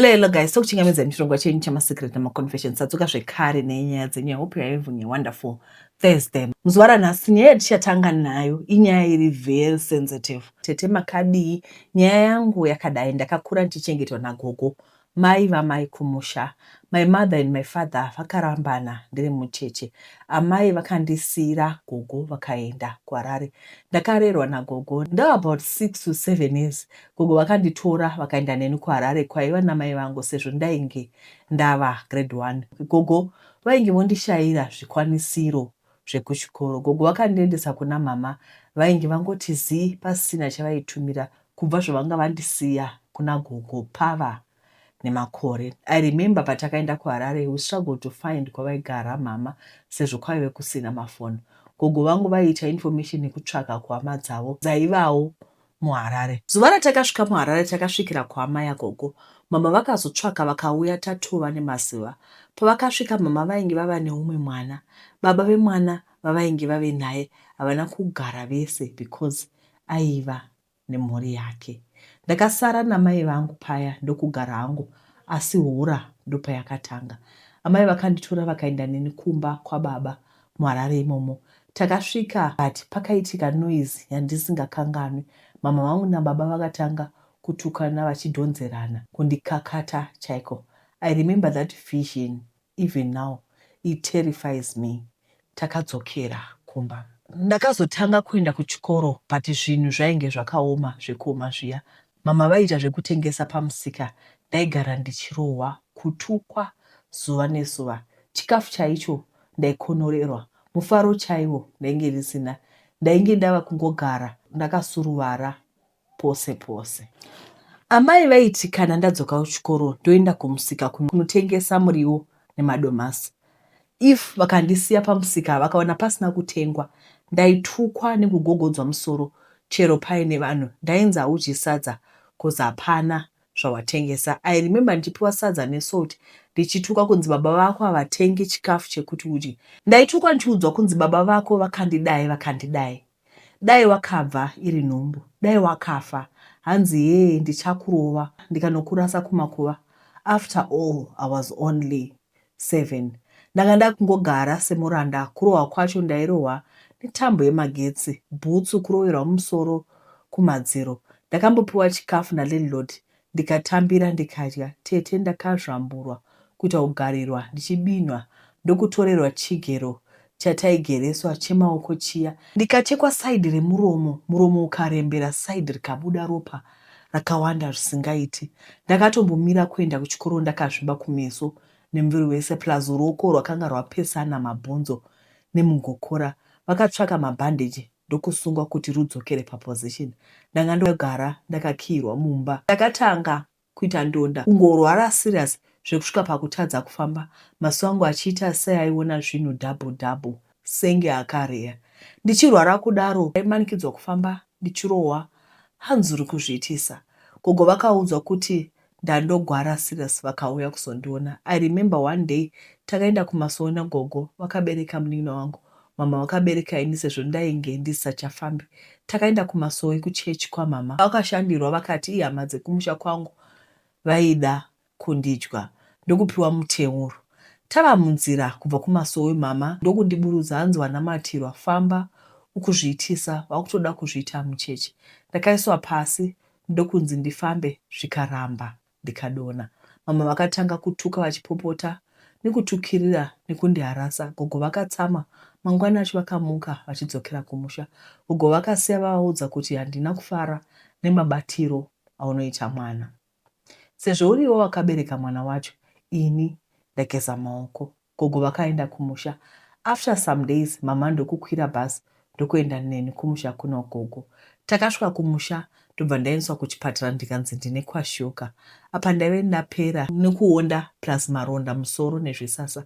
Lelo guys, tokuchingamidza nechirongwa chenyu chemasecret nemaconfession sadzoka zvekare nenyaya dzenyu. I hope you are having a wonderful Thursday. Muzuva ranhasi nyaya yatichatanga nayo inyaya iri very sensitive. Tete makadii? Nyaya yangu yakadai, ndakakura ndichichengetwa nagogo mai vamai kumusha. My mother and my father vakarambana ndiri mucheche. Amai vakandisiira gogo vakaenda kuHarare. Ndakarerwa nagogo ndava about six to seven years Gogo vakanditora vakaenda neni kuHarare kwaiva namai vangu sezvo ndainge ndava grade one. Gogo vainge vondishaira zvikwanisiro zvekuchikoro. Gogo vakandiendesa kuna mhamha vainge vangoti zii pasina chavaitumira kubva zvavanga vandisiya kuna gogo pava nemakore. I remember patakaenda kuHarare we struggled to find kwavaigara mhama sezvo kwaive kusina mafoni. Gogo vangu vaiita information yekutsvaga kuhama dzavo dzaivawo muHarare. Zuva ratakasvika muHarare takasvikira kuhama yagogo. Mama vakazotsvaga vakauya tatova nemazuva. Pavakasvika mama vainge vava neumwe mwana. Baba vemwana vavainge vave naye havana kugara vese because aiva nemhuri yake. Ndakasara namai vangu paya ndokugara hangu asi hora ndopayakatanga. Amai vakanditora vakaenda neni kumba kwababa muHarare imomo. Takasvika but pakaitika noise yandisingakanganwi. Mhamha vangu nababa vakatanga kutukana vachidhonzerana, kundikakata chaiko. I remember that vision even now it terrifies me. Takadzokera kumba. Ndakazotanga kuenda kuchikoro but zvinhu zvainge zvakaoma zvekuoma zviya. Mama vaiita zvekutengesa pamusika ndaigara ndichirohwa, kutukwa zuva nezuva. Chikafu chaicho ndaikonorerwa, mufaro chaiwo ndainge ndisina. Ndainge ndava kungogara ndakasuruvara pose pose. Amai vaiti kana ndadzoka kuchikoro ndoenda kumusika kunotengesa muriwo nemadomasi. If vakandisiya pamusika vakaona pasina kutengwa ndaitukwa nekugogodzwa musoro chero paine vanhu ndainzi haudyi sadza coz hapana zvawatengesa. I remember ndichipiwa sadza nesalt ndichitukwa kunzi baba vako havatengi chikafu chekuti udye. Ndaitukwa ndichiudzwa kunzi baba vako vakandidai vakandidai. Dai wakabva iri nhumbu dai wakafa hanzi hee ndichakurova ndikanokurasa kumakuva after all I was only seven ndanga ndakungogara semuranda kurohwa kwacho ndairohwa netambo yemagetsi bhutsu kuroverwa mumusoro kumadziro ndakambopiwa chikafu nalandlord ndikatambira ndikadya tete ndakazvamburwa kuita kugarirwa ndichibinhwa ndokutorerwa chigero chataigereswa chemaoko chiya ndikachekwa side remuromo muromo ukarembera side rikabuda ropa rakawanda zvisingaiti ndakatombomira kuenda kuchikoro ndakazvimba kumeso nemuviri wese plus ruoko rwakanga rwapesana mabhonzo nemugokora vakatsvaka mabhandage ndokusungwa kuti rudzokere paposition. Ndanga ndogara ndakakiirwa mumba. Ndakatanga kuita ndonda, kungorwara serious zvekusvika pakutadza kufamba, maziso angu achiita seaiona zvinhu double double senge akareya. Ndichirwara kudaro ndaimanikidzwa kufamba ndichirohwa hanzi uri kuzviitisa. Gogo vakaudzwa kuti Ndandogwara serious vakauya kuzondiona. I remember one day takaenda kumasowe nagogo vakabereka munin'ina wangu. Mhamha vakabereka ini sezvo ndainge ndisisachafambi. Takaenda kumasowe kuchurch kwamhamha. Kwakashandirwa vakati ihama dzekumusha kwangu vaida kundidya ndokupiwa muteuro. Tava munzira kubva kumasowe mhamha ndokundiburutsa hanzi wanamatirwa famba ukuzviitisa wakutoda kuzviita mucheche. Ndakaiswa pasi ndokunzi ndifambe zvikaramba ndikadona. Mama vakatanga kutuka vachipopota nekutukirira nekundiharasa. Gogo vakatsamwa mangwana acho vakamuka vachidzokera kumusha. Gogo vakasiya vavaudza kuti handina kufara nemabatiro aunoita mwana sezvo uriwe wakabereka mwana wacho ini ndageza maoko. Gogo vakaenda kumusha after some days mhamha ndokukwira bus ndokuenda neni kumusha kuna gogo. Takasvika kumusha ndobva ndaendeswa kuchipatara ndikanzi ndine kwashuga. Apa ndaive ndapera nekuonda plus maronda musoro nezvisasa.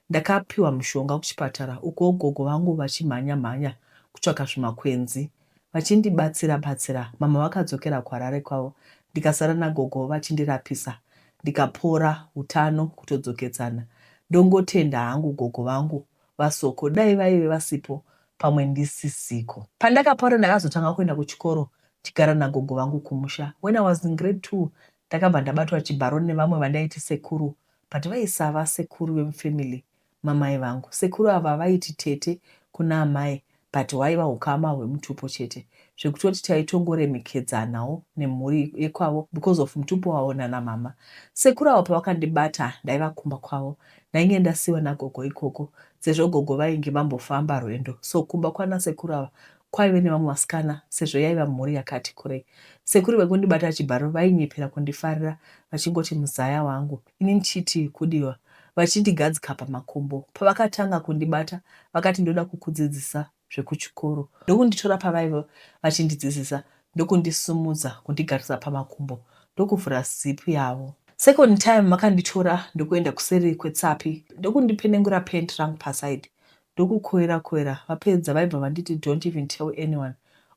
Ndakapiwa mushonga kuchipatara uko gogo vangu vachimhanya mhanya kutsvaka zvimakwenzi vachindibatsira batsira mama vakadzokera kuHarare kwavo ndikasara nagogo vachindirapisa ndikapora hutano kutodzokedzana ndongotenda hangu gogo vangu vaSoko dai vaive vasipo pamwe ndisisiko. Pandakapora ndakazotanga kuenda kuchikoro ndichigara nagogo vangu kumusha when I was in grade two ndakabva ndabatwa chibharo nevamwe vandaiti sekuru but vaisava sekuru vemufamily mamai vangu. Sekuru ava vaiti tete kuna amai but hwaiva hukama hwemutupo chete zvekutoti taitongoremekedzanawo nemhuri yekwavo because of mutupo wavo nana mama. Sekuru avo pavakandibata ndaiva kumba kwavo ndainge ndasiwa nagogo ikoko sezvo gogo vainge vambofamba rwendo so kumba kwana sekuru ava kwaive nevamwe vasikana sezvo yaiva mhuri yakati kurei. Sekuru vekundibata chibharo vainyepera kundifarira vachingoti muzaya wangu. ini ndichiti kudiwa vachindigadzika pamakumbo. Pavakatanga kundibata vakati ndoda kukudzidzisa zvekuchikoro ndokunditora pavaive vachindidzidzisa ndokundisimudza kundigarisa pamakumbo ndokuvhura zipu yavo. Second time vakanditora ndokuenda kuseri kwetsapi ndokundipenengura pant rangu paside ndokukoira koira vapedza vaibva vanditi don't even tell anyone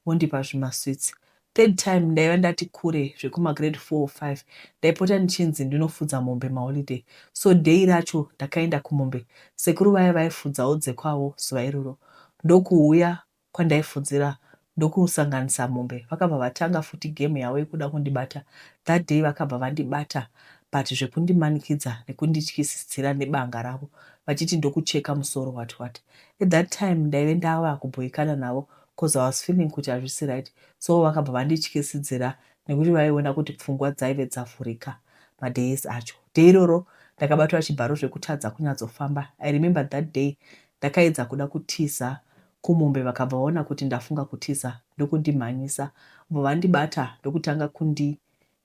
vondipa zvimasweets Third time ndaiva ndati kure zvekuma grade four or five ndaipota ndichinzi ndinofudza mombe maholiday so day racho ndakaenda kumombe sekuru vaya vaifudzawo dzekwavo zuva iroro ndokuuya kwandaifudzira ndokusanganisa mombe vakabva vatanga futi game yavo yekuda kundibata that day vakabva vandibata but zvekundimanikidza nekundityisidzira nebanga ravo vachiti ndokucheka musoro what what at that time ndaive ndava kubhoikana navo coz I was feeling kuti hazvisi right so vakabva vandityisidzira nekuti vaiona kuti pfungwa dzaive dzavhurika madays acho. Day iroro ndakabatwa chibharo zvekutadza kunyatsofamba. I remember that day ndakaedza kuda kutiza kumombe vakabva vaona kuti ndafunga kutiza ndokundimhanyisa vobva vandibata ndokutanga kundi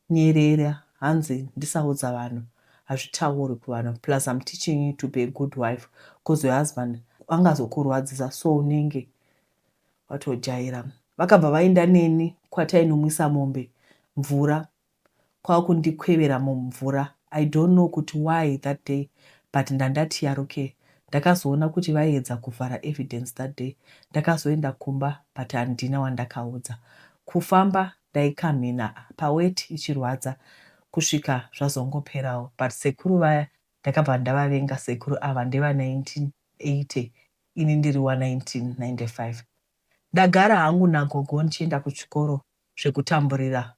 Nyerere hanzi ndisaudza vanhu hazvitaurwi kuvanhu plus I'm teaching you to be a good wife coz your husband angazokurwadzisa so unenge watojaira. Vakabva vaenda neni kwatainomwisa mombe mvura kwakundikwevera mumvura I don't know kuti why that day but ndandati yarukei. Ndakazoona kuti vaiedza kuvhara evidence that day ndakazoenda kumba but handina wandakaudza. Kufamba ndaikamhina paweti ichirwadza kusvika zvazongoperawo but sekuru vaya ndakabva ndavavenga sekuru ava ndeva 1980 ini ndiri wa 1995 ndagara hangu nagogo ndichienda kuchikoro zvekutamburira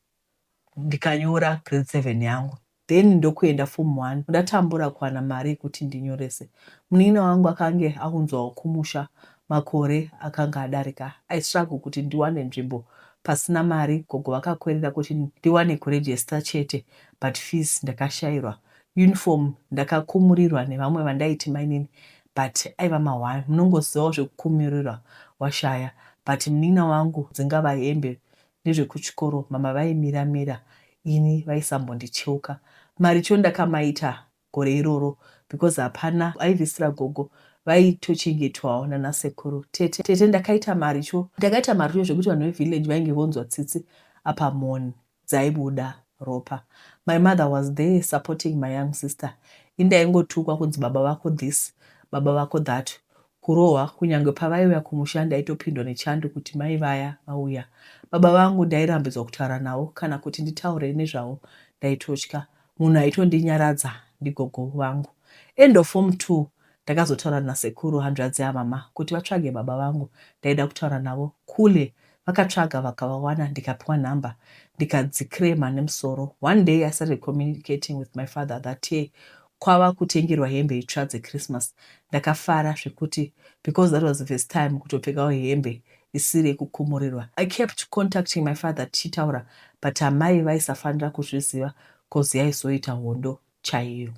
ndikanyora grade 7 yangu then ndokuenda form one ndatambura kuwana mari yekuti ndinyorese munin'ina wangu akange aunzwawo kumusha makore akanga adarika I struggle kuti ndiwane nzvimbo pasina mari gogo vakakwerera kuti ndiwane kuregister chete but fees ndakashairwa uniform ndakakumurirwa nevamwe vandaiti mainini but aiva mahwani munongozivawo zvekukumurirwa washaya but munin'ina wangu dzingava hembe nezvekuchikoro mama vaimira mira ini vaisambondicheuka maricho ndakamaita gore iroro because hapana aivisira gogo vaitochengetwawo nana sekuru tete tete ndakaita maricho ndakaita maricho zvekuti vanhu vevillage vainge vonzwa tsitsi apa mhoni dzaibuda ropa my mother was there supporting my young sister indaingotukwa kunzi baba vako this baba vako that kurohwa kunyangwe pavaiuya kumusha ndaitopindwa nechando kuti mai vaya vauya. Baba vangu ndairambidzwa kutaura navo kana kuti nditaure nezvavo ndaitotya. Munhu aitondinyaradza ndigogo vangu. End of form two ndakazotaura nasekuru hanzvadzi yamama kuti vatsvage baba vangu ndaida kutaura navo kule. Vakatsvaga vakavawana ndikapiwa number ndikadzicrema nemusoro. One day I started communicating with my father that year kwava kutengerwa hembe itsva dzechristmas ndakafara zvekuti because that was the first time kutopfekawo hembe isiri yekukumurirwa. I kept contacting my father tichitaura but amai vaisafanira kuzviziva coz yaizoita hondo chaiyo.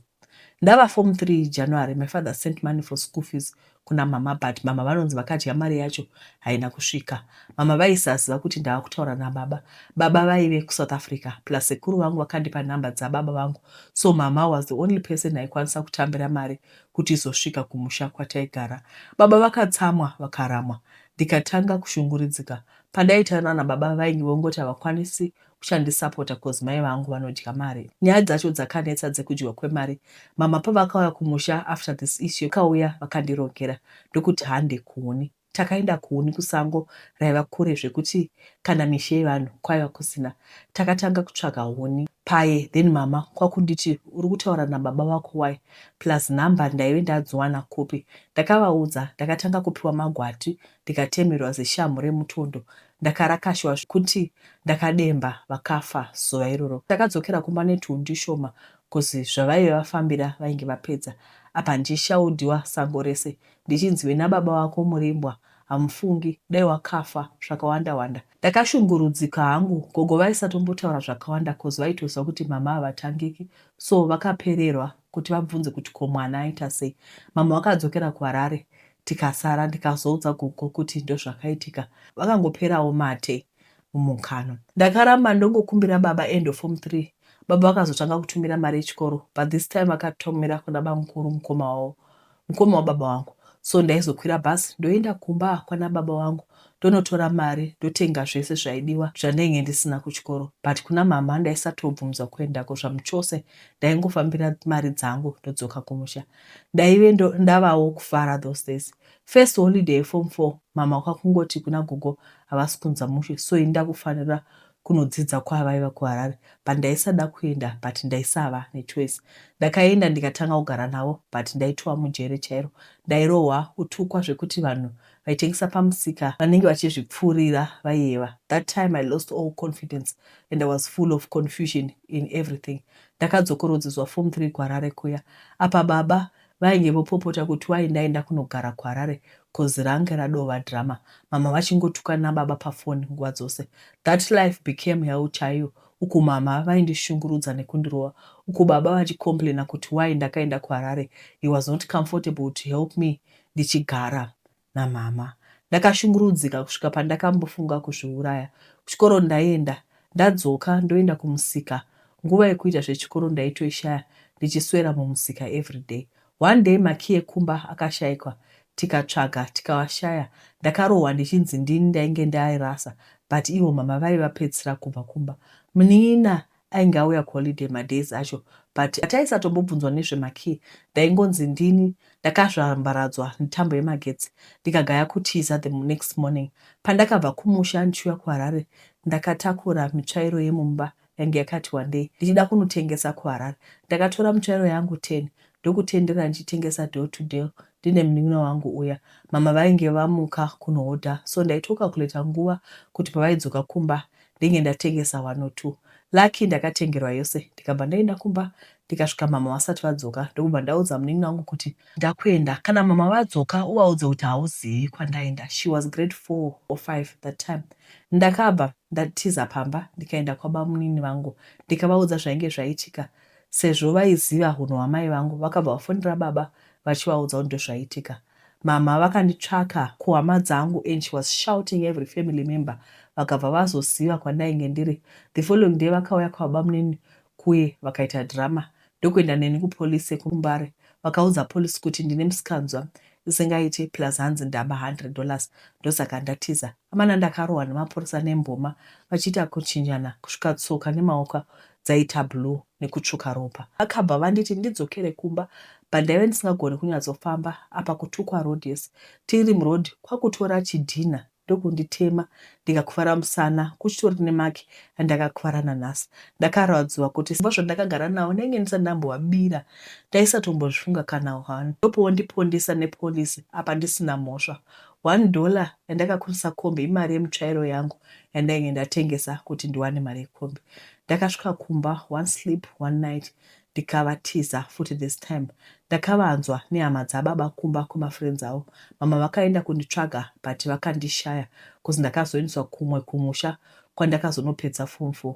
Ndava form three January my father sent money for school fees kuna mama but mama vanonzi vakadya mari yacho haina kusvika mama vaisaziva kuti ndava kutaura nababa baba vaive kusouth africa plus sekuru vangu vakandipa nhamba dzababa vangu so mama was the only person aikwanisa kutambira mari kuti izosvika kumusha kwataigara baba vakatsamwa vakaramwa ndikatanga kushunguridzika pandaitaura nababa vainge vongoti havakwanisi uchandisapota cause mai vangu vanodya mari nyaya dzacho dzakanetsa dzekudyiwa kwemari mama pavakauya kumusha after this issue kauya vakandirongera ndokuti hande kuhuni takaenda kuhuni kusango raiva kure zvekuti kana mishe yevanhu kwaiva kusina takatanga kutsvaga huni paye then mama kwakunditi uri kutaura nababa vako wai plus number ndaive ndadziwana kupi ndakavaudza ndakatanga kupiwa magwati ndikatemerwa zishamhu remutondo Ndakarakashwa zvekuti ndakademba vakafa zuva iroro. Takadzokera kumba netwun tushoma coz zvavaive vafambira vainge vapedza. Apa ndichishaudiwa sango rese ndichinzi wena baba wako murimbwa hamufungi dai wakafa zvakawanda wanda. Ndakashungurudzika hangu. Gogo vaisatombotaura zvakawanda coz vaitoziva kuti mama havatangiki so vakapererwa kuti vabvunze kuti ko mwana aita sei. Mama vakadzokera kuHarare tikasara ndikazoudza gogo kuti ndozvakaitika vakangoperawo mate mumukanwa ndakaramba ndongokumbira baba end of form 3 baba vakazotanga kutumira mari yechikoro but this time vakatomira kuna bamukuru mukoma wavo mukoma wababa wangu so ndaizokwira bus ndoenda kumba kwana baba wangu ndonotora mari ndotenga zvese zvaidiwa zvandainge ndisina kuchikoro but kuna mama ndaisatobvunzwa kuendako zvamuchose ndaingofambira mari dzangu ndodzoka kumusha ndaive ndavawo kufara those days first holiday yeform four mama kwakungoti kuna gogo havasi kunza mushe so ini ndakufanira kunodzidza kwavaiva kuharare but ndaisada kuenda but ndaisava nechoice ndakaenda ndikatanga kugara navo but ndaitova mujere chairo ndairohwa kutukwa zvekuti vanhu vaitengesa pamusika vanenge vachizvipfuurira vaiyeva that time i lost all confidence and i was full of confusion in everything Ndakadzokorodzezwa form three kuHarare kuya apa baba vainge vopopota kuti why ndaenda kunogara kuHarare coz range radova drama mhamha vachingotukana nababa paphone nguva dzose. That life became hell chaiyo uku mhamha vaindishungurudza nekundirova uku baba vachicomplainer kuti why ndakaenda kuHarare he was not comfortable to help me ndichigara namhamha. Ndakashungurudzika kusvika pandakambofunga kuzviuraya. Kuchikoro ndaienda ndadzoka ndoenda kumusika. Nguva yekuita zvechikoro ndaitoishaya ndichiswera mumusika everyday. One day makey ekumba akashaikwa tikatsvaga tikawashaya. Ndakarohwa ndichinzi ndini ndainge ndaairasa but ivo mhamha vaiva pedzisira kubva kumba. Munin'ina Ainge auya kuholiday madays acho but hataisatombobvunzwa nezvemakey ndaingonzi ndini ndakazvambaradzwa netambo yemagetsi ndikagaya kutiza the next morning pandakabva kumusha ndichiuya kuHarare ndakatakura mitsvairo yemumba yange yakati wandei ndichida kunotengesa kuHarare. Ndakatora mitsvairo yangu ten ndokutendera ndichitengesa deal to deal ndine munin'ina wangu uya. Mama vainge vamuka kunohodha so ndaitocalculator nguva kuti pavaidzoka kumba ndenge ndatengesa one or two lucky ndakatengerwa yose ndikabva ndaenda kumba ndikasvika mama vasati vadzoka ndokubva ndaudza munin'ina wangu kuti ndakuenda kana mama vadzoka uvaudze kuti hauzivi kwandaenda she was grade four or five that time ndakabva ndatiza pamba ndikaenda kwabamunini vangu ndikavaudza zvainge zvaitika sezvo vaiziva hunhu hwamai vangu vakabva vafonera baba vachivaudza kuti ndozvaitika Mhamha vakanditsvaka kuhama dzangu and she was shouting every family member vakabva vazoziva kwandainge ndiri. The following day vakauya kwababamunini kuye vakaita drama ndokuenda neni kupolice yekuMbare. Vakaudza police kuti ndine musikanzwa isingaite plus hanzi ndaba hundred dollars ndosaka ndatiza. Amana ndakarohwa nemapurisa nemboma vachiita kuchinjana kusvika tsoka nemaoko dzaita blue nekutsvuka ropa. Vakabva vanditi ndidzokere kumba but ndaive ndisingagone kunyatsofamba apa kutukwa road yese tiri muroad kwakutora chidhinha ndokunditema ndikakuvara musana kuchitori nemake andakakuvara nanhasi. Ndakarwadziwa kuti sezvo zvandakagara navo ndainge ndisati ndambovabira ndaisatombozvifunga kana one ndopovondipondesa nepolice apa ndisina mhosva One dollar yandakakurisa kombi imari yemutsvairo yangu yandainge ndatengesa kuti ndiwane mari yekombi. Ndakasvika kumba one sleep one night ndikavatiza futi this time ndakavanzwa nehama dzababa kumba kwemafriends avo. Mama vakaenda kunditsvaga but vakandishaya coz ndakazoendeswa kumwe kumusha kwandakazonopedza form four.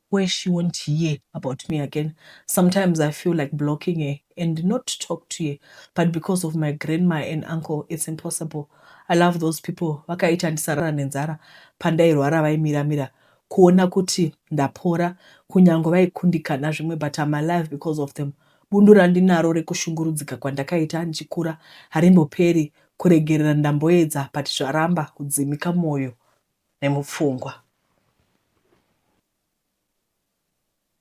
where she won't hear about me again sometimes I feel like blocking her and not talk to her but because of my grandma and uncle it's impossible I love those people vakaita ndisarara nenzara pandairwara vaimira mira kuona kuti ndapora kunyange vaikundikana zvimwe but I'm alive because of them bundu randinaro rekushungurudzika kwandakaita ndichikura harimboperi kuregerera ndamboedza but zvaramba kudzimika moyo nemupfungwa.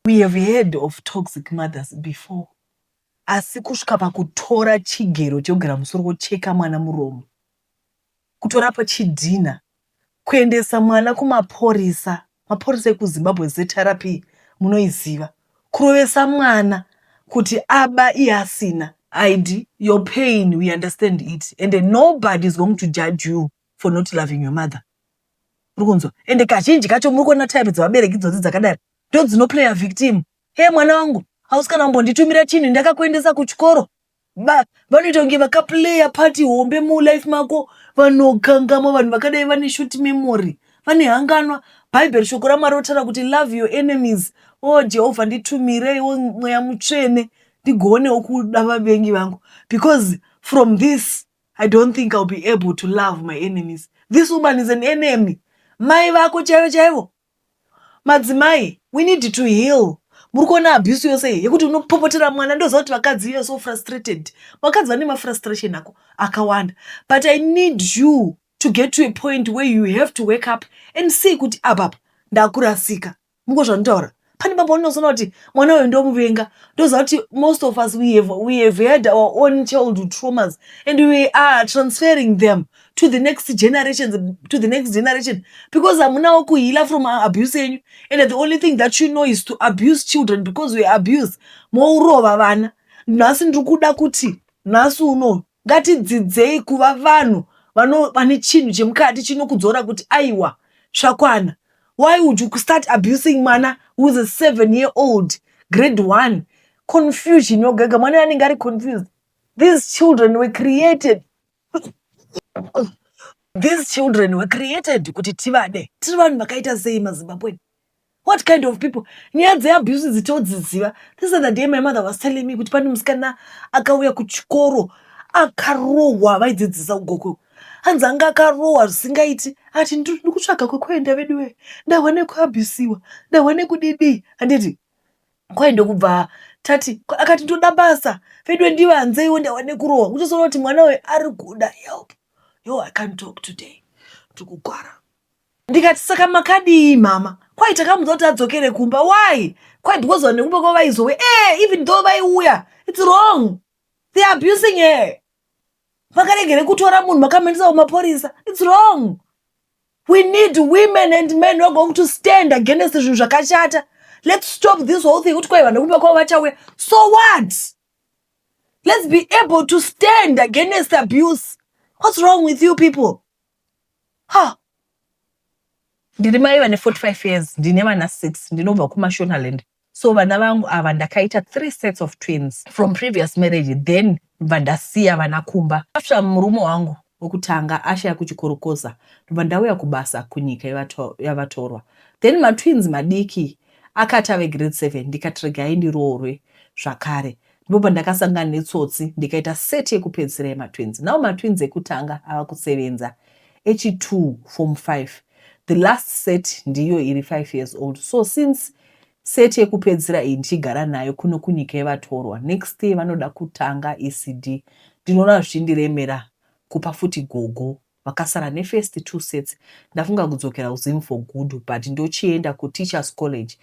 We have heard of toxic mothers before asi kusvika pakutora chigero chekugera musoro kocheka mwana muromo kutora pachidhinha kuendesa mwana kumaporisa maporisa ekuzimbabwe zrp munoiziva kurovesa mwana kuti aba iye asina id your pain we understand it and nobody is going to judge you for not loving your mother urikunzwa ende kazhinji kacho muri kuona type dzevabereki idzodzi dzakadaro ndo dzinoplayer victim he mwana wangu hausi kana kumbondi-tumira chinhu ndakakuendesa kuchikoro ba vanoita kunge vakaplayer party hombe mulife mako vanokangamwa vanhu vakadai vane short memory vane hanganwa bhaibheri shoko ramwari rotaura kuti love your enemies o oh, jehovha nditumireiwo mweya mutsvene ndigoonewo kuda vavengi vangu because from this I don't think I'll be able to love my enemies. This woman is an enemy. Mai vako chaivo chaivo. Madzimai, we need to heal. Muri kuona abuse yose iyi yekuti unopopotera mwana ndoziva kuti vakadzi you are so frustrated. Vakadzi vane mafrustration ako akawanda. But I need you to get to a point where you have to wake up and see kuti apapa ndakurasika. Muko zvanditaura. Pane baba unozoona kuti mwana uyu ndomuvenga. Ndoziva kuti most of us we have, we have had our own childhood traumas and we are transferring them to the next generations, to the next generation because hamunawo kuheala from abuse yenyu and the only thing that you know is to abuse children because we abuse mourova vana. Nhasi ndiri kuda kuti nhasi uno Ngatidzidzei kuva vanhu vanova nechinhu chemukati chinokudzora kuti aiwa zvakwana. Why would you start abusing mwana who is a seven year old grade one. Confusion yoga yoga mwana uyo anenge ari confused. These children were created these children were created kuti tivade. Tiri vanhu vakaita sei maZimbabwean? what kind of people nyaya dzeabuse idzi todziziva this other day my mother was telling me kuti pane musikana akauya kuchikoro akarohwa vaidzidzisa ugoko hanzi anga akarohwa zvisingaiti ati ndiri kutsvaga kwekuenda veduwe ndahwa nekuabusiwa ndahwa nekudidii handiti kwai ndokubva tati akati ndoda basa veduwe ndivanzeiwo ndahwa nekurohwa kutozoona kuti mwana uyu ari kuda help yo i can't talk today ndikugwara Ndikati saka makadii mama? Kwai takamuudza kuti adzokere kumba. Why? Kwai because vanhu vekumba kwavo vaizowe. Eh, even though vaiuya, it's wrong. They are abusing her. Makaregere kutora munhu makamuendesa kumapurisa. It's wrong. We need women and men who are going to stand against zvinhu zvakashata. Let's stop this whole thing kuti kwai vanhu vekumba kwavo vachauya. So what? Let's be able to stand against abuse. What's wrong with you people? ha ndiri mai vane 45 years ndine vana 6 ndinobva kumashonaland so vana vangu ava ndakaita three sets of twins from previous marriage then ndobva ndasiya vana kumba after murume wangu wekutanga ashaya kuchikorokoza ndobva ndauya kubasa kunyika yavatorwa then matwins madiki akati ave grade seven ndikati regai ndiroorwe zvakare Ndipo pandakasangana netsotsi ndikaita set yekupedzisira yematwins. Now matwins ekutanga ava kusevenza echi2 form 5. The last set ndiyo iri 5 years old. So since set yekupedzisira iyi ndichigara nayo kuno kunyika yevatorwa, next year vanoda kutanga ECD. Ndinoona zvichindiremera kupa futi gogo Vakasara ne first two sets ndafunga kudzokera kuZim for good but ndochienda kuTeachers College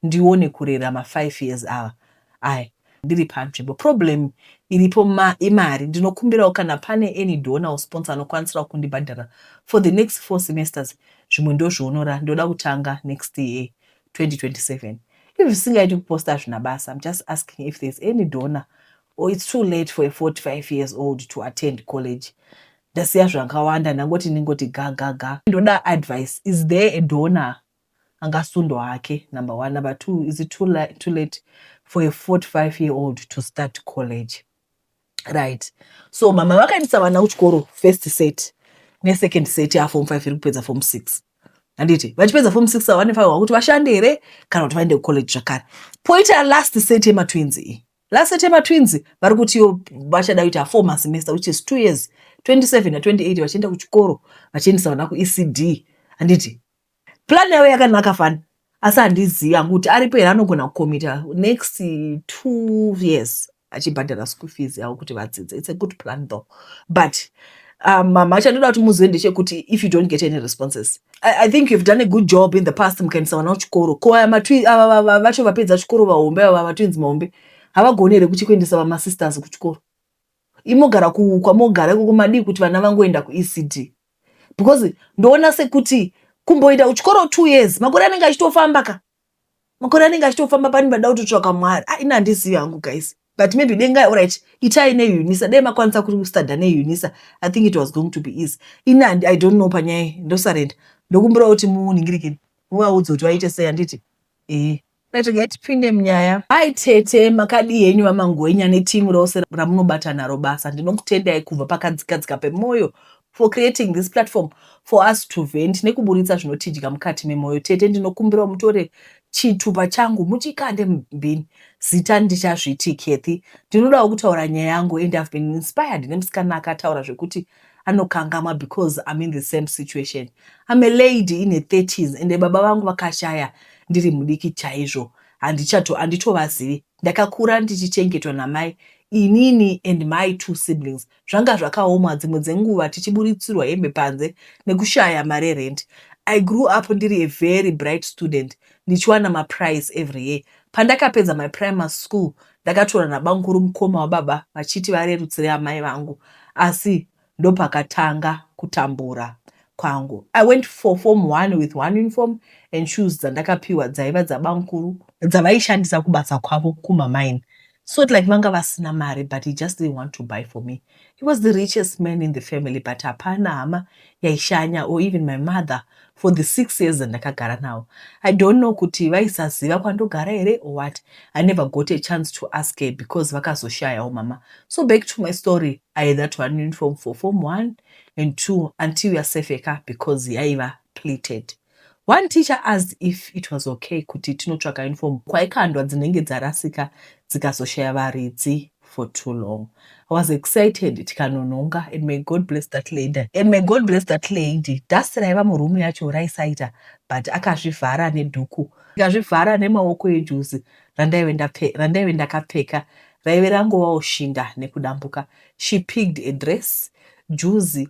ndione kurera ma five years ava I ndiri panzvimbo. Problem iripo ma imari. Ndinokumbirawo kana pane any donor or sponsor anokwanisirawo kundibhadharira for the next four semesters zvimwe ndozvionora ndoda kutanga next year 2027. If zvisingaiti kuposta hazvina basa I'm just asking if there's any donor or it's too late for a 45 years old to attend college. Ndasiya zvakawanda ndangoti ndingoti ga ga ga. Ndoda advice is there a donor angasundwa hake number one number two is it too, la too late for a 45 year old to start college right so mama vakaendesa vana kuchikoro first set nesecond set yaform five iri kupedza form six handiti vachipedza form six ava vanefanirwa kuti vashande here kana kuti vaende kucollege zvakare poita last set yematwins iyi Last September twins vari kutiwo vachada kuita four masemester which is two years 27 na 28 vachienda kuchikoro vachiendesa vana kuECD handiti plan yavo yakanaka fani asi handizivi hangu kuti aripo here anogona kukomita next two years achibhadhara school fees yavo kuti vadzidze its a good plan though but um, mama um, chandoda kuti muzive ndechekuti if you don't get any responses I, I think you've done a good job in the past mukaendesa vana kuchikoro ko aya matwi ava vacho vapedza chikoro vahombe ava vatwins mahombe havagoni here kuchi kuendesa vamasisters kuchikoro imogara kwamogara ikoko madii kuti vana vangoenda kuecd because ndoona sekuti kumboita kuchikoro two years makore anenge achitofamba ka makore anenge achitofamba pani vada kutotsvaka mwari a ah, ini handizivi hangu guys but maybe dengai orit itai neunisa dai makwanisa kustada neunisa i think it was going to be easy ini i don't know panyaya ndosarenda ndokumbira kuti muningirikini muvaudze kuti vaite sei handiti ee rega tipinde munyaya hai tete makadii henyu vamangwenya netimu rose ramunobata naro basa ndinokutendai kubva pakadzikadzika pemwoyo for creating this platform for us to vent nekuburitsa zvinotidya mukati memoyo tete ndinokumbirawo mutore chitupa changu muchikande mubhini zita ndichazviti Kathy ndinodawo kutaura nyaya yangu and I've been inspired nemusikana akataura zvekuti anokangamwa because I'm in the same situation I'm a lady in a 30s and baba vangu vakashaya ndiri mudiki chaizvo handichato handitovazivi ndakakura ndichichengetwa namai inini and my two siblings Zvanga zvakaoma dzimwe dzenguva tichiburitsirwa hembe panze nekushaya mari yerent. I grew up ndiri a very bright student ndichiwana maprize every year. Pandakapedza my primary school ndakatorwa nabamkuru mukoma wababa vachiti varerutsire amai vangu asi ndopakatanga kutambura kwangu. I went for form one with one uniform and shoes dzandakapiwa dzaiva dzabamkuru dzavaishandisa kubasa kwavo kumamine so it like vanga vasina mari but he just didn't want to buy for me he was the richest man in the family but hapana hama yaishanya or even my mother for the six years andakagara nawo i don't know kuti vaisaziva kwandogara here or what i never got a chance to ask her because vakazoshayawo mama so back to my story i had that one uniform for form one and two until yasefeka because yaiva pleated One teacher asked if it was okay kuti tinotsvaka uniform kwaikandwa dzinenge dzarasika dzikazoshaya varidzi for too long. I was excited tikanonhonga and may God bless that lady. And may God bless that lady. Dust raiva muroom yacho raisaita but akazvivhara nedhuku ndikazvivhara nemaoko ejuzi randaive ndakapfeka raive rangovawo shinda nekudambuka. She picked a dress, juzi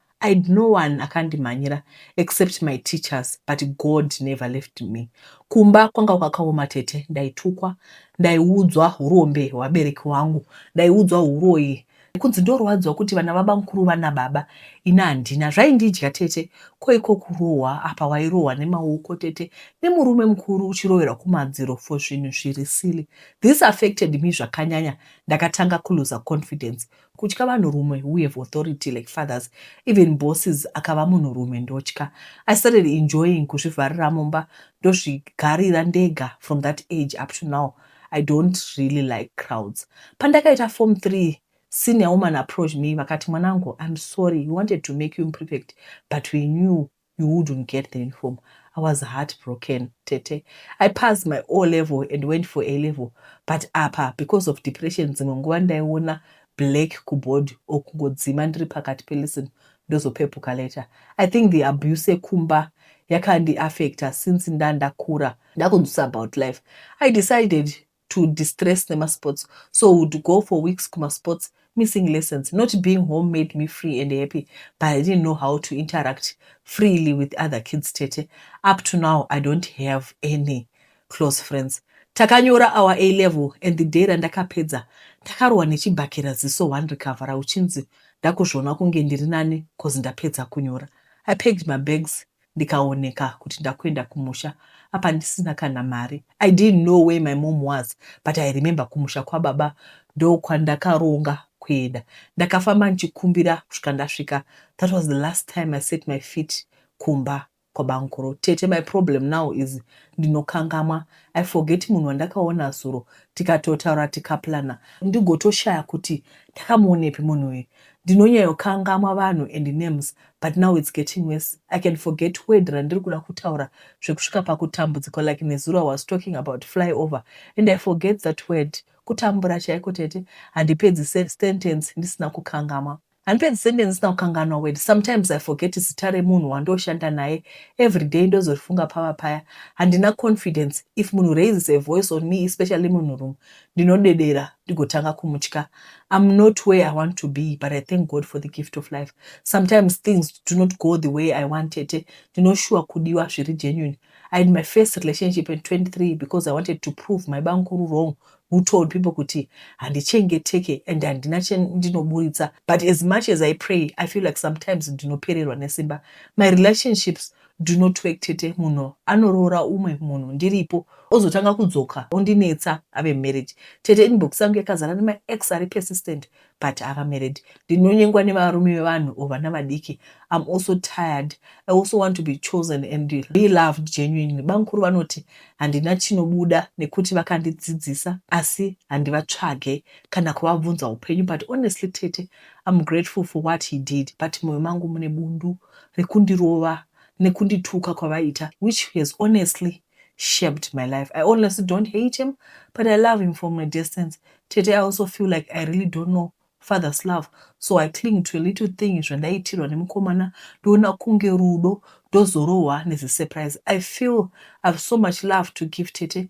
I had no one akandimhanyira except my teachers but God never left me. Kumba kwanga kwakaoma tete, ndaitukwa, ndaiudzwa hurombe hwevabereki wangu, ndaiudzwa huroyi, kunzi ndorwadziwa kuti vana babamukuru vana baba ini handina. Zvaindidya tete, ko iko kurohwa apa wairohwa nemaoko tete nemurume mukuru uchiroverwa kumadziro for zvinhu zviri silly. This affected me zvakanyanya, ndakatanga kuluza confidence. Kutya vanhurume who have authority like fathers even bosses akava munhurume ndotya. I started enjoying kuzvivharira mumba ndozvigarira ndega from that age up to now I don't really like crowds. Pandakaita form three senior woman approached me vakati mwanangu I'm sorry we wanted to make you imperfect but we knew you wouldn't get the uniform i was heart broken tete i passed my o level and went for a level but apa because of depression dzimwe nguva ndaiona black kuboard or kungodzima ndiri pakati pelison ndozopepuka later i think the abuse ekumba yakandiaffecta since ndandakura ndakunzwisa about life i decided to distress nemasports so would go for weeks kumasports missing lessons not being home made me free and happy but i didn't know how to interact freely with other kids tete up to now i don't have any close friends takanyora our a level and the day randakapedza ndakarohwa nechibhakera ziso one recovera uchinzi ndakuzviona kunge ndiri nani cause ndapedza kunyora i packed my bags ndikaoneka kuti ndakuenda kumusha apa ndisina kana mari i didn't know where my mom was but i remember kumusha kwababa ndokwandakaronga kuenda ndakafamba ndichikumbira kusvika ndasvika that was the last time i set my feet kumba kwabankuru tete my problem now is ndinokangamwa i forget munhu wandakaona zuro tikatotaura tikaplana ndigotoshaya kuti ndakamuonepi munhu uyu ndinonyayokangamwa vanhu and names but now it's getting worse I can forget word randiri kuda kutaura zvekusvika pakutambudzikwa like nezuro I was talking about fly over and I forget that word kutambura chaiko tete handipedzi sentence ndisina kukangama handipedzi sentence ndisina kukanganwa word sometimes I forget zita remunhu wandoshanda naye everyday ndozorifunga pava paya handina confidence if munhu raises a voice on me especially munhurume ndinodedera ndigotanga kumutya I'm not where I want to be but I thank God for the gift of life sometimes things do not go the way I want tete ndinoshuwa kudiwa zviri genuine I had my first relationship in 23 because I wanted to prove my bankuru wrong who told people kuti handichengeteke and handina chendinoburitsa but as much as I pray I feel like sometimes ndinopererwa nesimba my relationships Do not work tete munhu anoroora umwe munhu ndiripo ozotanga kudzoka ondinetsa ave married tete inbox yangu yakazara nema ex ari persistent but ava married ndinonyengwa nevarume vevanhu or vana vadiki I'm also tired I also want to be chosen and be loved genuinely bamkuru vanoti handina chinobuda nekuti vakandidzidzisa asi handivatsvage kana kuvabvunza upenyu but honestly tete I'm grateful for what he did but moyo mangu mune bundu rekundirova nekundituka kwavaita which has honestly shaped my life. I honestly don't hate him but I love him from a distance. Tete I also feel like I really don't know father's love so I cling to a little thing zvandaitirwa nemukomana ndoona kunge rudo ndozorohwa nezisurprise. I feel I have so much love to give Tete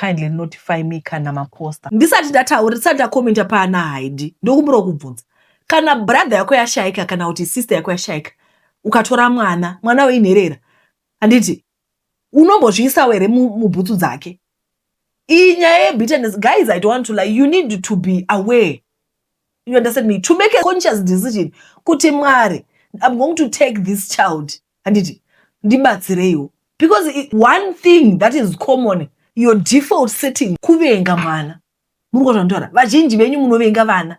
Kindly notify me kana ma poster. Ndisati ndataura ndisati ndacommenta paana haidi ndokumbirawo kubvunza kana brother yako yashaika kana kuti sister yako yashaika ukatora mwana mwana uyu inherera handiti unombozviisawo here mubhutsu dzake iyi nyaya yebitterness guys i don't want to lie you need to be aware you understand me to make a conscious decision kuti mwari i'm going to take this child handiti ndibatsireiwo because it, one thing that is common your default setting kuvenga mwana muri kuzvandaura vazhinji venyu munovenga vana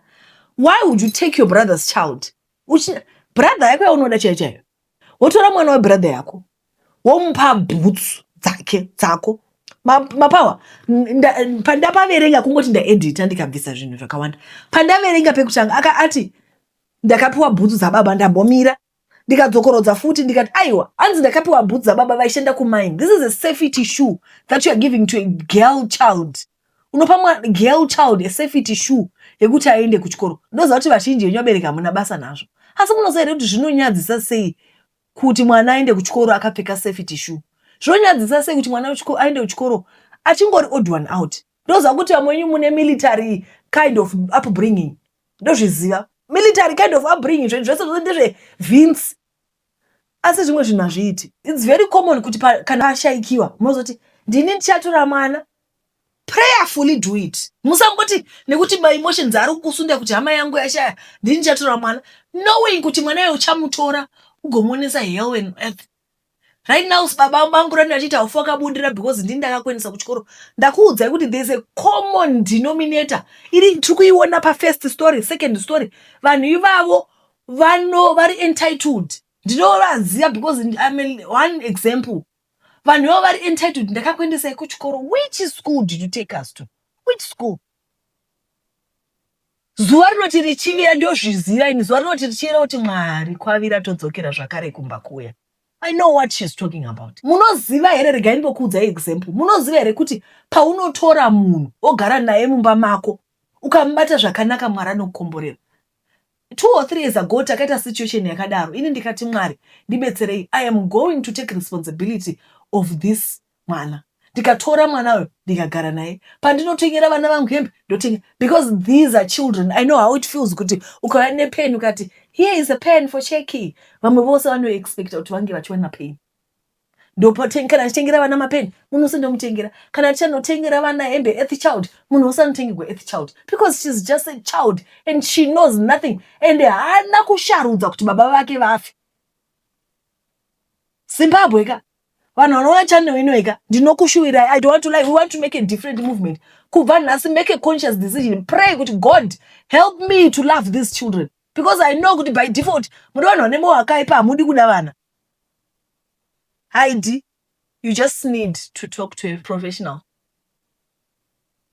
why would you take your brother's child Uchi, brother yako yaunoda chaiyo chaiyo wotora mwana webrother yako womupa bhutsu dzake dzako mapawa pandapaverenga kungoti ndaedita ndikabvisa zvinhu zvakawanda pandaverenga pekutanga aka ati ndakapiwa bhutsu dzababa ndambomira ndikadzokorodza futi ndikati aiwa hanzi ndakapiwa bhutsu dzababa vaishanda kumine this is a safety shoe that you are giving to a girl child unopa mwana girl child a safety shoe yekuti aende kuchikoro ndoziva kuti vazhinji venyu vabereki hamuna basa nazvo asi munoziva here kuti zvinonyadzisa sei kuti mwana aende kuchikoro akapfeka safety shoe zvinonyadzisa sei kuti mwana aende kuchikoro achingori odd one out ndoziva kuti vamwe venyu mune military kind of upbringing ndozviziva military kind of upbringing zvinhu zvese zvose ndezvevhinsi asi zvimwe zvinhu hazviiti its very common kuti kana ashaikiwa munozoti ndini ndichatora mwana prayerfully do it musangoti nekuti my emotions ari kukusunda kuti hama yangu yashaya ndini chatora mwana knowing kuti mwana uyo uchamutora ugomuonesa hell and earth right now baba vangu rani vachiti haufa wakabudira because ndini ndakakuendesa kuchikoro ndakuudzai kuti there's a common denominator iri tiri kuiona pafirst story second story vanhu ivavo vano vari entitled ndinovaziva because I'm a, one example vanhu ivo vari entitled ndakakuendesai kuchikoro which school did you take us to which school zuva rinoti richivira ndozviziva ini zuva rinoti richivira kuti mwari kwavira todzokera zvakare kumba kuya i know what she's talking about munoziva here regai ndinokuudza example munoziva here kuti paunotora munhu ogara naye mumba mako ukamubata zvakanaka mwari anokukomborera Two or three years ago takaita situation yakadaro ini ndikati Mwari ndibetserei I am going to take responsibility of this mwana ndikatora mwana uyo ndikagara naye pandinotengera vana vangu hembe ndotenga because these are children I know how it feels kuti ukauya nepen ukati here is a pen for cheki vamwe vose vanoexpecta kuti vange vachiwana pain ndopoteng kana tichitengera vana mapeni munhu wese ndomutengera kana tichanotengera vana hembe earth child munhu wese anotengegwa earth child because shes just a child and she knows nothing and haana kusharudza kuti baba vake vafe zimbabwe ka vanhu vanoona channel inoyi ka ndinokushuwirai i don't want to lie we want to make a different movement kubva nhasi make a conscious decision pray kuti god help me to love these children because i know kuti by default muri vanhu vane moyo akaipa hamudi kuda vana haidi you just need to talk to a professional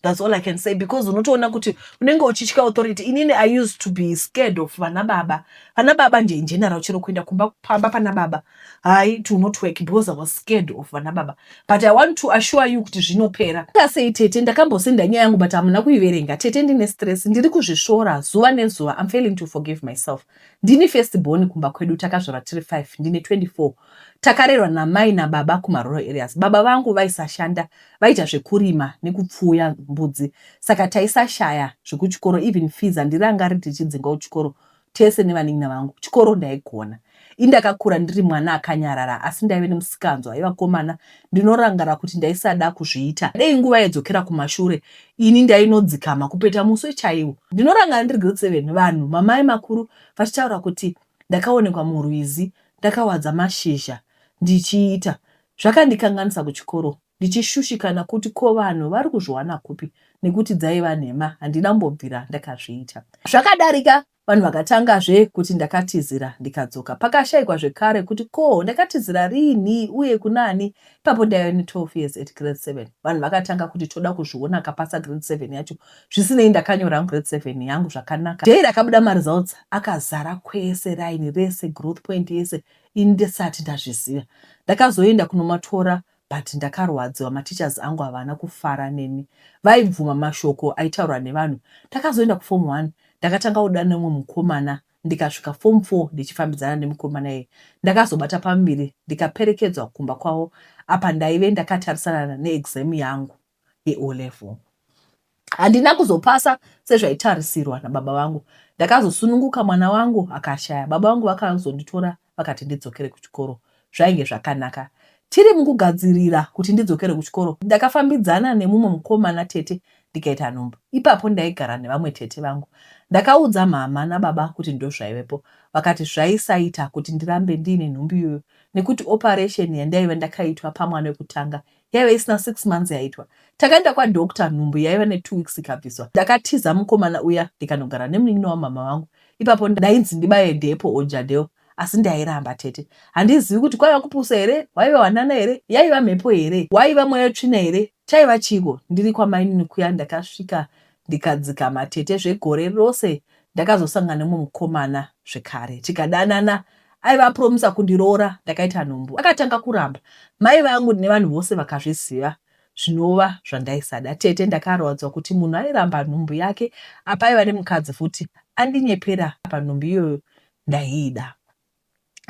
thats all i can say because unotoona kuti unenge uchitya authority inini i used to be scared of vana baba vana baba nje ingeneral chero kuenda kumba pamba pana baba hai to not work because i was scared of vana baba but i want to assure you kuti zvinopera akasei tete ndakambosenda nyaya yangu but hamuna kuiverenga tete ndine stress ndiri kuzvisvora zuva nezuva im failing to forgive myself Ndini first born kumba kwedu takazvarwa tiri five ndine 24. Takarerwa namai nababa kumarural areas. Baba vangu vaisashanda vaita zvekurima nekupfuuya mbudzi saka taisashaya zvekuchikoro even fees handirangariri tichidzingwa kuchikoro tese nevanin'ina vangu. Chikoro ndaigona. Indakakura ndiri mwana akanyarara asi ndaive nemusikanzwa aivakomana Ndinorangara kuti ndaisada kuzviita. Dei nguva yaidzokera kumashure ini ndainodzikama kupeta muswe chaiwo. Ndinorangara ndiri grade seven vanhu mamai makuru vachitaura kuti ndakaonekwa murwizi ndakawadza mashizha ndichiita. Zvakandikanganisa kuchikoro ndichishushikana kuti ko vanhu vari kuzviwana kupi nekuti dzaiva nhema handina kumbobvira ndakazviita. Zvakadarika Vanhu vakatangazve kuti ndakatizira ndikadzoka. Pakashaikwa zvekare kuti ko ndakatizira riinhi uye kunani? Ipapo ndaiva ne 12 years at grade 7. Vanhu vakatanga kuti toda kuzviona akapasa grade 7 yacho. Zvisinei ndakanyora hangu grade 7 yangu zvakanaka. Day rakabuda ma results akazara kwese raini rese growth point yese ini ndisati ndazviziva. Ndakazoenda kunomatora But ndakarwadziwa mateachers angu havana kufara neni vaibvuma mashoko aitaurwa nevanhu. Takazoenda kuform one ndakatanga kuda neumwe mukomana ndikasvika form four ndichifambidzana nemukomana iyeye. Ndakazobata pamuviri ndikaperekedzwa kumba kwavo apa ndaive ndakatarisana neexam yangu. yeO level. Handina kuzopasa sezvaitarisirwa nababa vangu. Ndakazosununguka mwana wangu akashaya. Baba vangu vakazonditora vakati ndidzokere kuchikoro. Zvainge zvakanaka. Tiri mukugadzirira kuti ndidzokere kuchikoro, ndakafambidzana nemumwe mukomana tete ndikaita nhumbu. Ipapo ndaigara nevamwe tete vangu. Ndakaudza mhamha nababa kuti ndozvaivepo. Vakati zvaisaita kuti ndirambe ndiine nhumbu iyoyo nekuti operation yandaive ndakaitwa pamwana wekutanga yaive isina six months yaitwa takaenda kwadoctor nhumbu yaiva netwo weeks ikabviswa ndakatiza mukomana uya ndikanogara nemunin'ina wamama vangu ipapo ndainzi ndibaye depo ojadeo asi ndairamba tete handizivi kuti kwaiva kupusa here waiva wanana here yaiva mhepo here waiva mweya tsvina here chaiva chiiko ndiri kwamainini kuya ndakasvika ndikadzikama tete zvegore rose ndakazosangana nemumwe mukomana zvekare tikadanana aiva apromisa kundiroora ndakaita nhumbu akatanga kuramba mai vangu nevanhu vose vakazviziva zvinova zvandaisada tete ndakarwadzwa kuti munhu airamba nhumbu yake apa aiva nemukadzi futi andinyepera apa nhumbu iyoyo ndaiida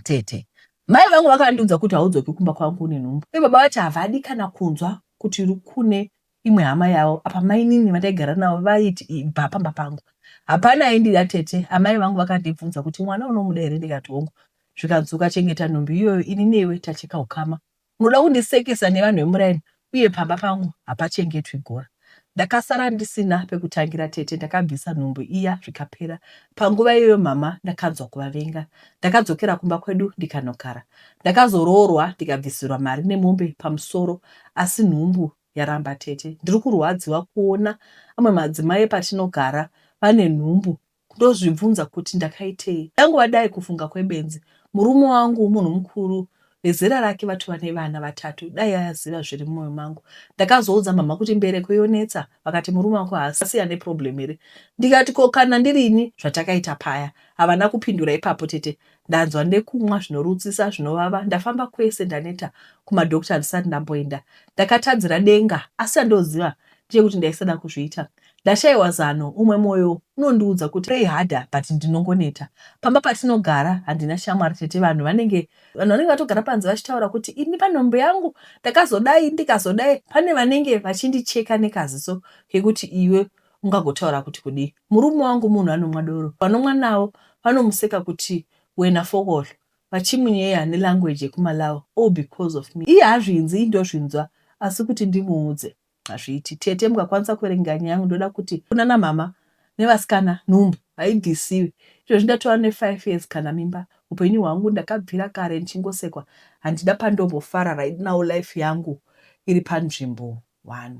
tete mai vangu vakandiudza kuti haudzoki kumba kwangu une nhumbu uye baba vati havadi kana kunzwa kuti kune imwe hama yavo apa mainini vataigara navo vaiti ibva pamba pangu hapana aindida tete amai vangu vakandibvunza kuti mwana unomuda here ndikati hongu zvikanzi ukachengeta nhumbi iyoyo ini newe tacheka ukama unoda kundisekesa nevanhu vemuraini uye pamba pangu hapachengetwi gora ndakasara ndisina pekutangira tete ndakabvisa nhumbu iya zvikapera panguva iyoyo mama ndakanzwa kuvavenga ndakadzokera kumba kwedu ndikanogara ndakazoroorwa ndikabvisirwa mari nemombe pamusoro asi nhumbu yaramba tete ndiri kurwadziwa kuona amwe madzimai epatinogara vane nhumbu ndozvibvunza kuti ndakaitei dangova dai kufunga kwebenzi murume wangu munhu mukuru vezera rake vatova nevana vatatu dai aziva zviri mumoyo mangu ndakazoudza mhamha kuti mbereko yonetsa vakati murume wako haasi ane problem here ndikati ko kana ndirini zvatakaita paya havana kupindura ipapo tete Ndanzwa nekumwa zvinorutsisa zvinovava ndafamba kwese ndaneta kumadoctor handisati ndamboenda ndakatadzira denga asi chandoziva ndechekuti ndaisada kuzviita ndashaiwa zano umwe moyo unondiudza kuti pray harder but ndinongoneta pamba patinogara handina shamwari tete vanhu vanenge vanhu vanenge vatogara panze vachitaura kuti ini panhombo yangu ndakazodai ndikazodai pane vanenge vachindicheka nekaziso kekuti iwe ungagotaura kuti kudii murume wangu munhu anomwa doro vanomwa nawo vanomuseka kuti wena fokol vachimunyeya ne language yekumalawi all because of me iye hazvinzii ndozvinzwa asi kuti ndimuudze hazviiti tete mukakwanisa kuverenga nyaya yangu ndoda kuti kunana mhama nevasikana nhumbu haibvisiwi izvozvi ndatova ne 5 years kana mimba upenyu hwangu ndakabvira kare ndichingosekwa handina pandombofara right now life yangu iri panzvimbo one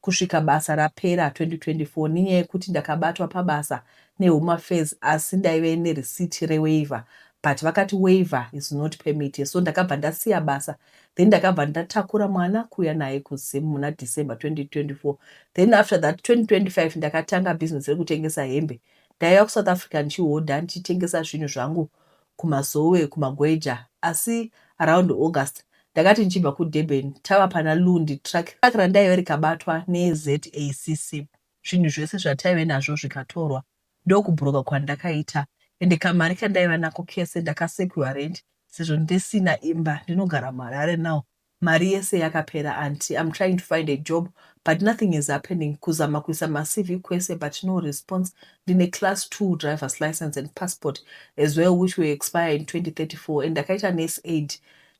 kusvika basa rapera 2024 nenyaya yekuti ndakabatwa pabasa nehome affairs asi ndaive nereceipt rewaiver but vakati waiver is not permit so ndakabva ndasiya basa then ndakabva ndatakura mwana kuuya naye kuZim muna December 2024 then after that 2025 ndakatanga business rekutengesa hembe ndaiva kuSouth Africa ndichihodha ndichitengesa zvinhu zvangu kumasowe kumagweja asi around August ndakati ndichibva kuDurban tava pana Lundi truck randaive rikabatwa neZACC zvinhu zvese zvataive nazvo zvikatorwa ndokubhuroka kwandakaita ende kamari kandaiva nako kese ndakasekiwa rent sezvo ndisina imba ndinogara muHarare now Mari yese yakapera aunty I'm trying to find a job but nothing is happening kuzama kuisa maCV kwese but no response ndine class two drivers license and passport as well which will expire in 2034 and ndakaita nurse aid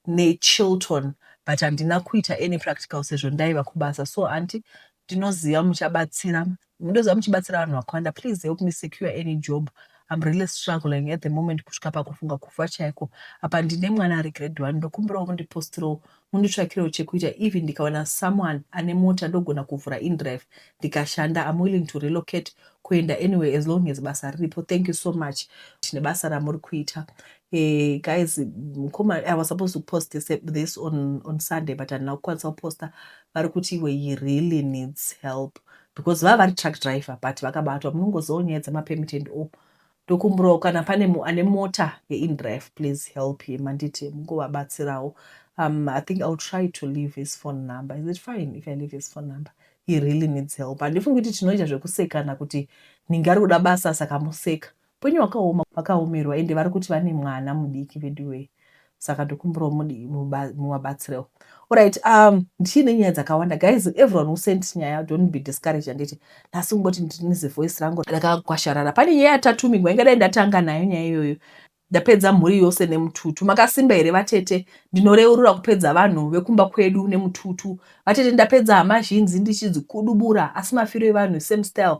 neChilton but handina kuita any practical sezvo ndaiva kubasa so aunty ndinoziva muchabatsira Ndozva muchibatsira vanhu vakawanda please help me secure any job I'm really struggling at the moment kusvika pakufunga kufa chaiko apa ndine mwana ari grade one ndokumbirawo mundipostirawo munditsvakirewo chekuita even ndikawana someone ane mota ndogona kuvhura indrive ndikashanda I'm willing to relocate kuenda anyway as long as basa riripo thank you so much tine basa ramuri kuita Hey, eh, guys mkoma i was supposed to post this, this on, on sunday but handina kukwanisa kuposta vari kuti iwe he really needs help because vava vari truck driver but vakabatwa munongozivawo nyaya dzemapermit and all ndokumbirawo kana pane ane mota yeindraf please help him handiti mungovabatsirawo um, i think ill try to leave his phone number is it fine if i leave his phone number he really needs help handifungi kuti tinoita zvekusekana kuti ninge ari kuda basa saka museka Upenyu hwakaoma vakaomerwa ende varikuti vane mwana mudiki veduwee saka ndokumbirawo mudi muvabatsirewo orit um, ndichiine nyaya dzakawanda guys everyone who sent nyaya don't be discouraged handiti nhasi ungoti ndinize voice rangu rakakwasharara pane nyaya yatatumigwa ingadai ndatanga nayo nyaya iyoyo ndapedza mhuri yose nemututu makasimba here vatete ndinoreurura kupedza vanhu vekumba kwedu nemututu vatete ndapedza hama zhinji ndichidzikudubura asi mafiro evanhu same style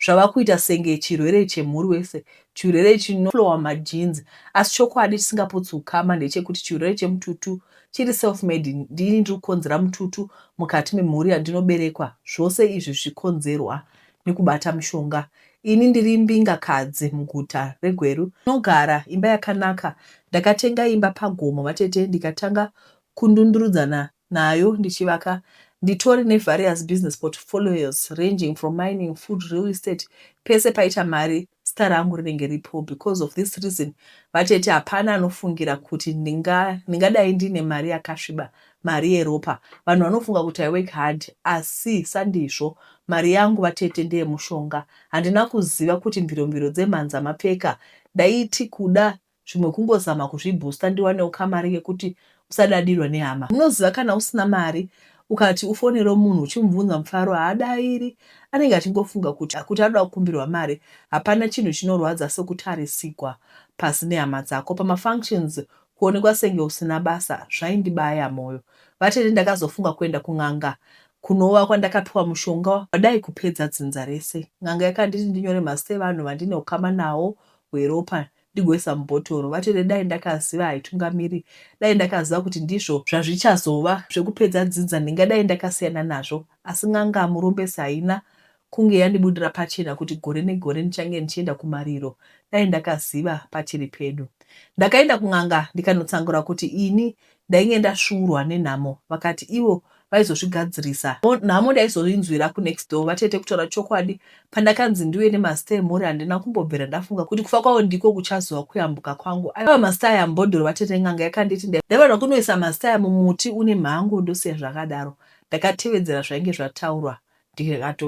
zvava kuita senge chirwere chemhuri wese, chirwere chinoflowa majeans. Asi chokwadi chisingaputsi ukama ndechekuti chirwere chemututu chiri self-made. Ndini ndiri kukonzera mututu mukati memhuri yandinoberekwa. Zvose izvi zvichikonzerwa nekubata mushonga. Ini ndiri imbingakadzi muguta reGweru. Ndinogara imba yakanaka. Ndakatenga imba pagomo vatete ndikatanga kundundurudzana nayo ndichivaka nditori nevarious business portfolios ranging from mining, food, real estate pese paita mari zita rangu rinenge ripo because of this reason vatete hapana anofungira kuti ndingadai ndiine mari yakasviba mari yeropa vanhu vanofunga kuti i work hard asi sandizvo mari yangu vatete ndeye mushonga handina kuziva kuti mviromviro dzemhanza mapfeka ndaiti kuda zvimwe kungozama kuzvi booster ndiwanewo kamari kekuti usadadirwe nehama. Munoziva kana usina mari ukati ufonerewo munhu uchimubvunza mufaro haadairi anenge achingofunga kuti akuti anoda kukumbirwa mari hapana chinhu chinorwadza sekutarisigwa pasi nehama dzako pama functions kuonekwa senge usina basa zvaindibaya moyo vatete ndakazofunga kuenda kun'anga kunova kwandakapiwa mushonga wadai kupedza dzinza rese n'anga yakanditi ndinyore mazita evanhu vandine ukama nawo hweropa ndigoisa mubhotoro. Vatete dai ndakaziva haitungamiri dai ndakaziva kuti ndizvo zvazvichazova zvekupedza dzinza ndingadai ndakasiyana nazvo asi n'anga Murombesi haina kunge yandibudira pachena kuti gore negore ndichange ndichienda kumariro dai ndakaziva pachiri pedu. Ndakaenda kun'anga ndikanotsangura kuti ini ndainge ndasvuurwa nenhamo vakati ivo vaizozvigadzirisa nhamo ndaizoinzwira kunext door vatete kutaura chokwadi pandakanzi ndiuye nemazita emhuri handina kumbobvira ndafunga kuti kufa kwavo ndiko kuchazova kuyambuka kwangu aiva mazita aya mbodoro vatete n'anga yakanditi ndaivanwa kunoisa mazita aya mumuti une mhango ndosiya zvakadaro ndakatevedzera zvainge zvataurwa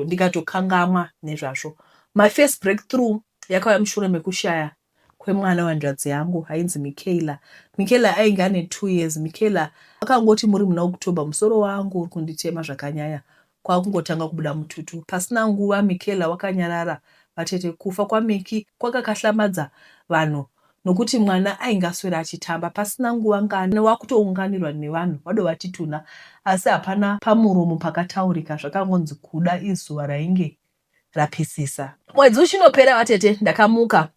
ndikatokangamwa nezvazvo my first breakthrough yakauya mushure mekushaya kwemwana wehanzvadzi yangu ainzi Michaela. Michaela ainge ane two years. Michaela akangoti muri muna October musoro wangu uri kunditema zvakanyanya kwakungotanga kubuda mututu. Pasina nguva Michaela wakanyarara. Vatete, kufa kwaMicky kwakakahlamadza vanhu nokuti mwana ainge aswera achitamba. Pasina nguva ngani wakutounganirwa nevanhu vadovati tunha asi hapana pamuromo pakataurika zvakangonzi kuda izuva rainge rapisisa. Mwedzi uchinopera vatete ndakamuka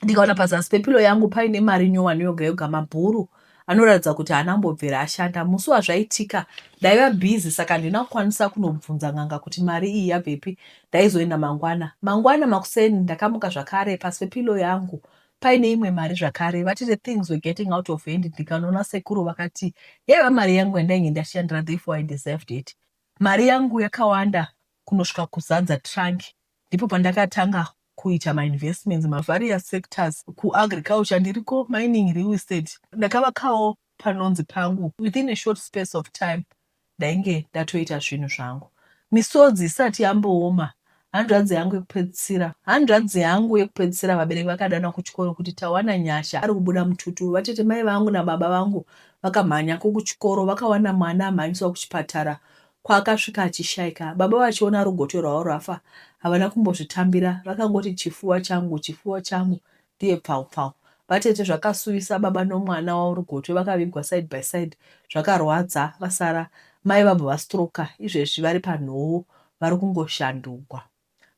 ndikaona pazasi pepilo yangu paine mari nyowani yoga yoga mabhuru anoratidza kuti haana kumbobvira ashanda musi wazvaitika ndaiva bhizi saka handina kukwanisa kunobvunza n'anga kuti mari iyi yabvepi ndaizoenda mangwana mangwana makuseni ndakamuka zvakare pasi pepilo yangu paine imwe mari zvakare vati the things were getting out of hand ndikanoona sekuru vakati yaiva mari yangu yandainge ndashandira therefore i deserved it Mari yangu yakawanda kunosvika kuzadza trunk ndipo pandakatanga kuita mainvestments mavarious sectors. KuAgriculture ndiriko, mining, real estate. Ndakavakawo panonzi pangu within a short space of time ndainge ndatoita zvinhu zvangu misodzi isati yambooma Hanzvadzi yangu yekupedzisira Hanzvadzi yangu yekupedzisira vabereki vakadanwa kuchikoro kuti tawana Nyasha ari kubuda mututu. Vatete mai vangu nababa vangu vakamhanya ko kuchikoro vakawana mwana amhanyiswa kuchipatara kwaakasvika achishaika. Baba vachiona rugoto rwavo rwafa havana kumbozvitambira vakangoti chifuwa changu chifuwa changu Dear pfau pfau. Vatete zvakasuwisa baba nomwana wauri gotwe vakavigwa side by side zvakarwadza vasara Mai vabva vastroker izvezvi vari panhowo vari kungoshandugwa.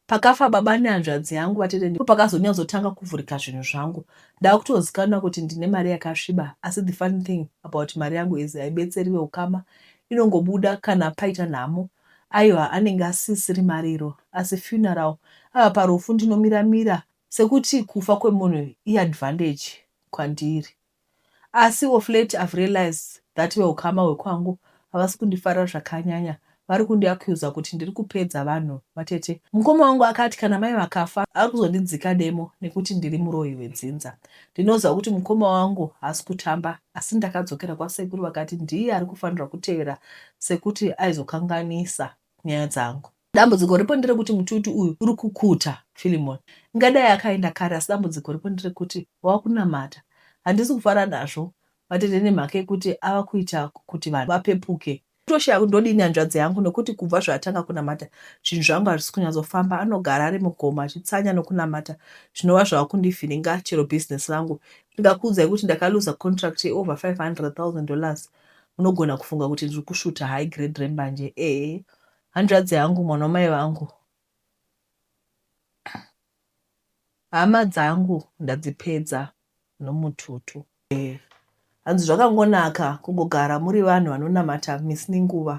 Pakafa baba nehanzvadzi yangu vatete ndipo pakazonyatsotanga kuvhurika zvinhu zvangu ndakutozikanwa kuti ndine mari yakasviba asi the funny thing about mari yangu is haibetseri veukama inongobuda kana paita nhamo aiwa anenge asisiri mariro asi funeral ava parufu ndinomira mira Sekuti kufa kwemunhu i advantage kwandiri asi of late I've realised that vehukama hwekwangu havasi kundifarira zvakanyanya vari kundi accuser kuti ndiri kupedza vanhu vatete. Mukoma wangu akati kana mai vakafa ari kuzondidzika demo nekuti ndiri muroyi wedzinza. Ndinoziva kuti mukoma wangu haasi kutamba asi ndakadzokera kwasekuru vakati ndiye ari kufanirwa kutevera sekuti aizokanganisa. nyaya dzangu. Dambudziko ripo nderekuti mututu uyu uri kukuta Philemon. Ingadai akaenda kare asi dambudziko ripo nderekuti wava kunamata. Handisi kufara nazvo vatete nemhaka yekuti ava kuita kuti vanhu vapepuke. Ndotoshaya kuti ndodii nehanzvadzi yangu nekuti kubva zvaatanga kunamata zvinhu zvangu hazvisi kunyatsofamba. Anogara ari mugomo achitsanya nokunamata zvinova zvava kundivhiringa chero business rangu. Ndingakuudzai kuti ndakaluza contract yeover 500,000 dollars Munogona kufunga kuti ndiri kusvuta high grade rembanje ee hanzvadzi yangu mwana wamai vangu hama dzangu ndadzipedza nomututu ee hanzi zvakangonaka kungogara muri vanhu vanonamata misi nenguva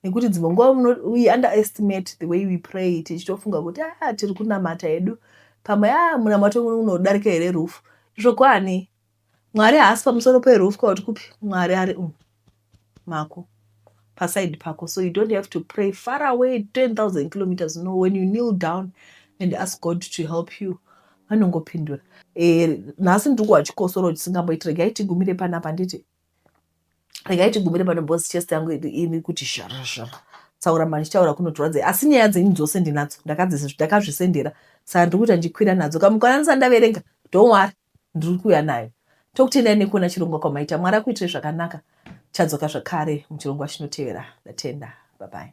nekuti dzimwe nguva we underestimate the way we pray tichitofunga kuti a ah, tiri kunamata hedu pamwe a ah, munamato unodarika here rufu izvo kwani Mwari haasi pamusoro perufu kuti kupi Mwari ari um mako paside pako so you don't have to pray far away 10000 kilometers no when you kneel down and ask God to help you anongopindura eh, nhasi ndiri kuwa chikosoro chisingamboiti regai tigumire panapa nditi regai tigumire pano bos chest yangu ini kuti zharazhara tsaura mani chitaura kunotorwadza asi nyaya dzenyu dzose ndinadzo ndakazvisendera saka ndiri kuita ndichikwira nadzo kamukwananisa ndaverenga don't worry ndiri kuuya nayo tokutendai nekuona chirongwa kwamaita mwari akuitirei zvakanaka chadzoka zvakare muchirongwa chinotevera ndatenda babai